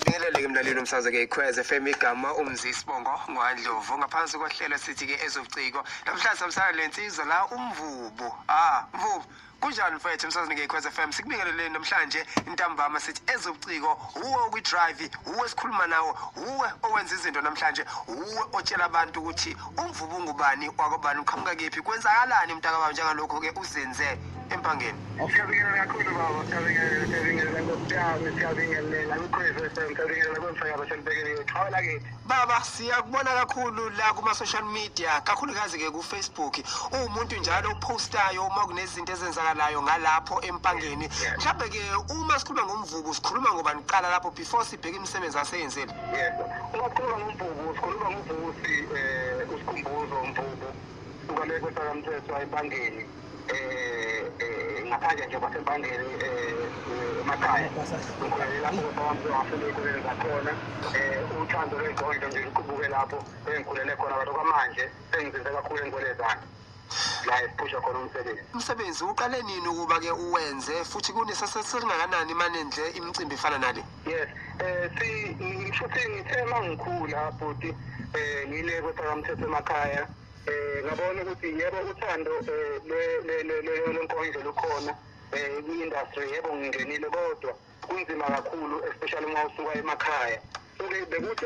Ngeleleke mlaleli umsazwe ke ikhweze FM igama umzi sibongo ngwadlovu ngaphansi kohlelo sithi ke ezobuciko namhlanje samsana lensizwa la umvubu ah mvubu kunjani mfethu emsazini ngeyikhwez f m sikubingeleleni namhlanje intambama sithi ezobuciko wuwe okwi-drive wuwe esikhuluma nawo wuwe owenza izinto namhlanje wuwe otshela abantu ukuthi Umvubu ungubani wakobani uqhamuka kephi kwenzakalani mntakababa njengalokho-ke uzenze empangeni Siyabingelela kakhulu baba, siyabingelela, siyabingelela Nkosi yami, siyabingelela Ukhozi FM, siyabingelela kwemsakazo selibekele yethu. Hawu lakithi. baba siyakubona kakhulu la kuma-social media kakhulukazi-ke kufacebook uwumuntu njalo ophostayo uma kunezinto ezenzakalayo ngalapho empangeni mhlawumbe-ke uma sikhuluma ngomvubu sikhuluma ngobani kuqala lapho before sibheke imisebenzi aseyenzile Yebo. Uma sikhuluma ngoMvubu, sikhuluma ngoVusi eh uSikhumbuzo Mvubu suka le kwesakamthethwa eBangeni eh, eh ngaphandle nje kwaseBangeni eh emakhaya. Ngikholele lapho kwasakamthethwa ngafunda ey'koleni zakhona eh uthando lwey'gondlo nje luqubuke lapho engikhulele khona kodwa kwamanje sengizinze kakhulu engikwelezana. la ephusha khona umsebenzi umsebenzi uqale nini ukuba ke uwenze futhi kuneseselingakanani mane nje imicimbi efana nale yes eh si futhi ngithe mangikhula futhi eh ngile kwethakamthetho emakhaya eh ngabona ukuthi yebo uthando eh, le le le le lenkonzo lukhona eh industry yebo ngingenile kodwa kunzima kakhulu especially uma usuka emakhaya so bekuthi